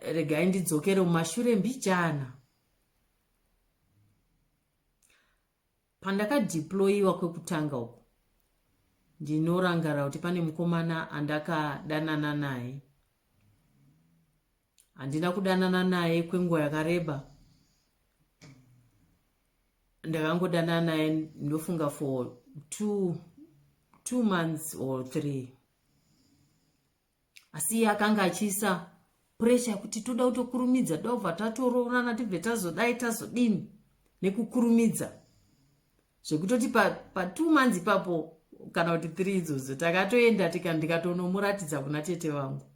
regai ndidzokere mumashure mbijana pandakadeployiwa kwekutanga uku ndinorangara kuti pane mukomana andakadanana naye handina kudanana naye kwenguva yakareba ndakangodanana naye ndofunga for two, two months or three asi iye akanga achiisa puresha yekuti toda kutokurumidza toda kubva tatoroorana tibve tazodai tazodini nekukurumidza zvekutoti patwo pa months ipapo kana kuti three idzodzo takatoenda tika ndikatonomuratidza kuna tete vangu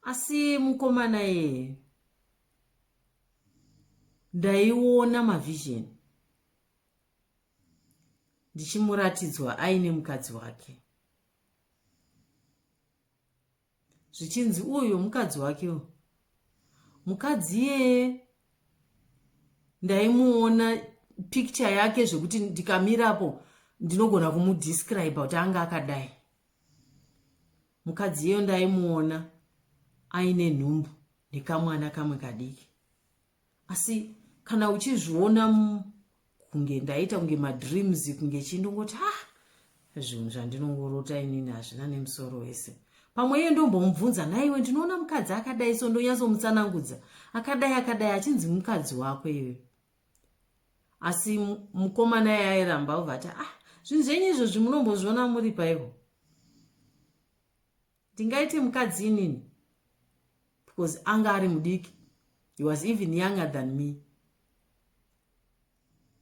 asi mukomana yeye ndaiona mavhizheni ndichimuratidzwa aine mukadzi wake zvichinzi uyo mukadzi wake mukadzi iyeye ndaimuona picture yake zvekuti ndikamirapo ndinogona kumudescribe kuti anga akadai mukadzi iyo ndaimuona aine nhumbu nekamwana kamwe kadiki asi kana uchizviona kunge ndaita kunge madreams kunge chii ndongoti ah zvinhu zvandinongorota inini hazvina nemusoro wese pamwe iye ndombomubvunza nhaiwe ndinoona mukadzi akadai so ndonyatsomutsanangudza akadai akadai achinzi mukadzi wako iwe asi mukomana ye airamba ovati ah zvinhu zvenyu izvozvi munombozviona muri paivo ndingaite mukadzi inini because anga ari mudiki he was even younger than me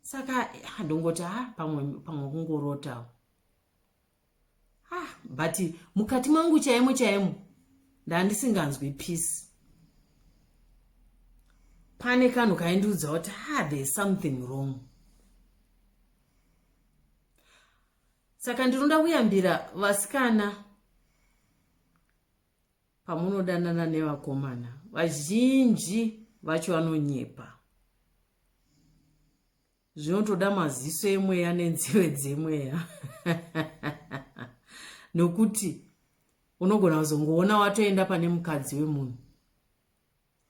saka handongoti ha ah, pamwe pamwe kungorotawo ha ah, but mukati mangu chaimo chaimo ndandisinganzwi peace pane kanhu kaindiudza kuti ha ah, there's something wrong saka ndinoda kuyambira vasikana pamunodanana nevakomana vazhinji vacho vanonyepa zvinotoda maziso emweya nenzeve dzemweya nokuti unogona kuzongoona watoenda pane mukadzi wemunhu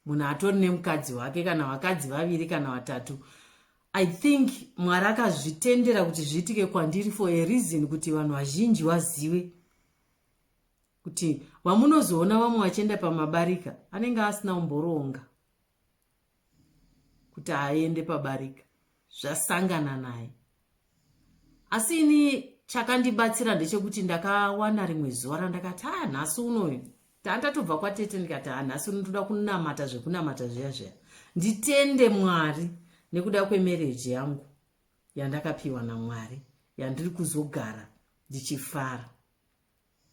munhu atori nemukadzi wake kana vakadzi vaviri kana vatatu i think mwari akazvitendera kuti zviitike kwandiri for a reason kuti vanhu vazhinji vazive kuti vamunozoona vamwe vachienda pamabarika anenge asina umboroonga kuti aende pabarika zvasangana naye asi ini chakandibatsira ndechekuti ndakawana rimwe zuva randakati haa nhasi unoyu tandatobva kwatete ndikati haa nhasi uno ndoda kunamata zvekunamata zviya zviya nditende mwari nekuda kwemereji yangu yandakapiwa namwari yandiri kuzogara ndichifara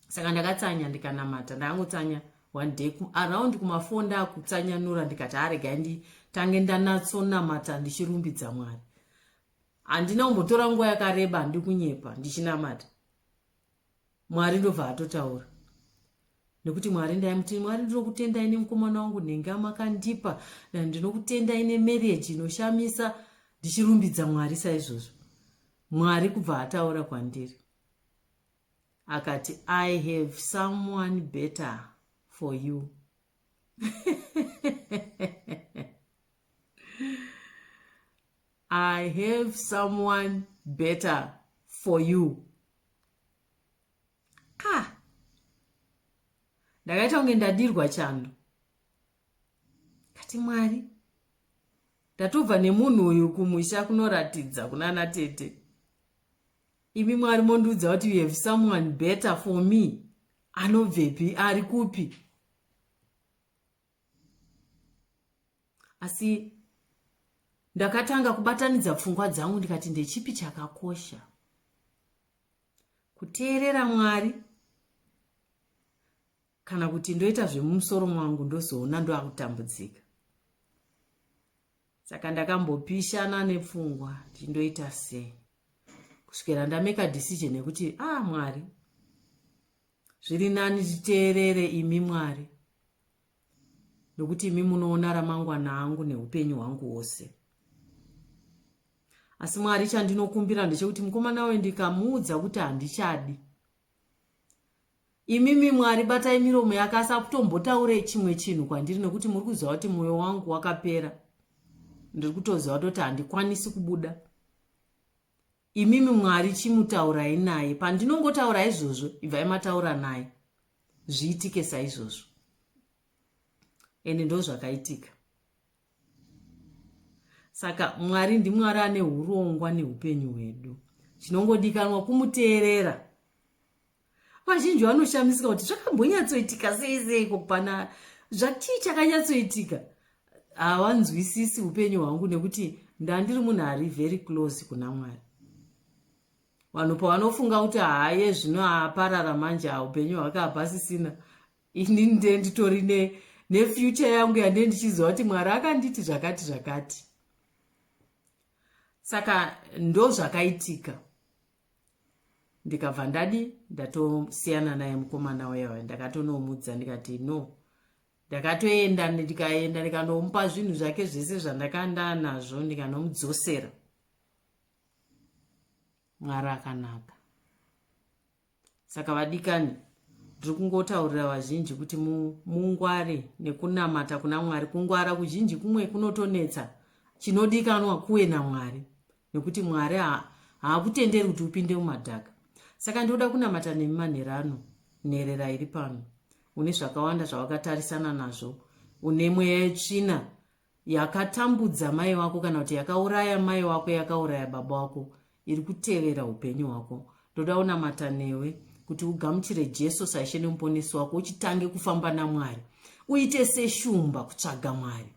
saka ndakatsanya ndikanamata ndakangotsanya one day around kumafonda akutsanyanura ndikati aregai nditange ndanatsonamata ndichirumbidza mwari handina kumbotora nguva yakareba ndikunyepa ndichinamata mwari ndobva atotaura nekuti mwari ndaimuti mwari ndinokutendai nemukomana wangu nhenga makandipa ndinokutendai nemarriage inoshamisa ndichirumbidza mwari saizvozvo mwari kubva ataura kwandiri akati i have someone better for you i have someone better for you ah ndakaita kunge ndadirwa chando kati mwari ndatobva nemunhu uyu kumusha kunoratidza kunana tete imi mwari mondiudza kuti you have someone better for me anobvepi ari kupi asi ndakatanga kubatanidza pfungwa dzangu ndikati ndechipi chakakosha kuteerera mwari kana kuti ndoita zvemumusoro mwangu ndozoona ndoakutambudzika saka ndakambopishana nepfungwa kuti ndoita sei kusvikira ndameka decision yekuti a ah, mwari zviri nani titeerere imi mwari nokuti imi munoona ramangwana angu neupenyu hwangu hwose asi mwari chandinokumbira ndechekuti mukomana uyo ndikamuudza kuti handichadi Imimi Mwari batai miromo yake asi akutombotaure chimwe chinhu kwandiri nekuti muri kuziva kuti mwoyo wangu wakapera ndiri kutoziva toti handikwanisi kubuda imimi mwari chimutaurai naye pandinongotaura izvozvo ibvai mataura naye zviitike saizvozvo ende ndo zvakaitika saka mwari ndimwari ane urongwa neupenyu hwedu chinongodikanwa kumuteerera vazhinji vanoshamisika kuti zvakambonyatsoitika sei sei kokupana zvachii chakanyatsoitika hawanzwisisi upenyu hwangu nekuti ndandiri munhu ari very close kuna mwari vanhu pavanofunga kuti haye zvino aparara manje haupenyu hwake hapasisina ini nde nditori nefuture yangu yande ndichiziva kuti mwari akanditi zvakati zvakati saka ndo zvakaitika ndikabva ndadi ndatosiyana naye mukomana wayawaya ndakatonomudza ndikati no ndakatoenda ndikaenda ndikanomupa zvinhu zvake zvese zvandakandaa nazvo ndikanomudzosera mwari akanaka saka vadikani ndiri kungotaurira vazhinji kuti mungware nekunamata kuna mwari kungwara kuzhinji kumwe kunotonetsa chinodikanwa kuwe namwari nekuti mwari haakutenderi kuti upinde mumadhaka saka ndinoda kunamata nemi manhero ano nherera iri pano une zvakawanda zvawakatarisana nazvo une mweya yetsvina yakatambudza mai wako kana kuti yakauraya mai wako yakauraya baba wako iri kutevera upenyu hwako ndoda unamata newe kuti ugamuchire jesu saishe nemuponesi wako uchitange kufamba namwari uite seshumba kutsvaga mwari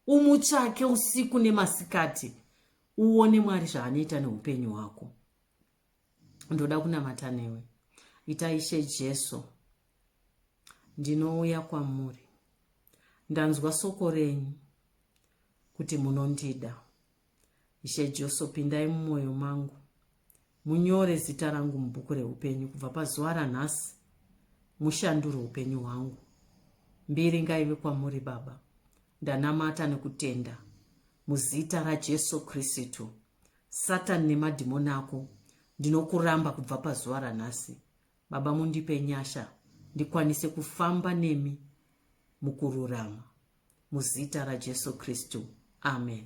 umutsvake usiku nemasikati uone mwari zvaanoita neupenyu hwako ndoda kunamata newe ita ishe jesu ndinouya kwamuri ndanzwa soko renyu kuti munondida ishe jesu pindai mumwoyo mangu munyore zita rangu mubhuku reupenyu kubva pazuva ranhasi mushandure upenyu hwangu mbiri ngaive kwamuri baba ndanamata nekutenda muzita rajesu kristu Satan nemadhimoni ako ndinokuramba kubva pazuva ranhasi baba mundipe nyasha ndikwanise kufamba nemi mukururama muzita rajesu kristu amen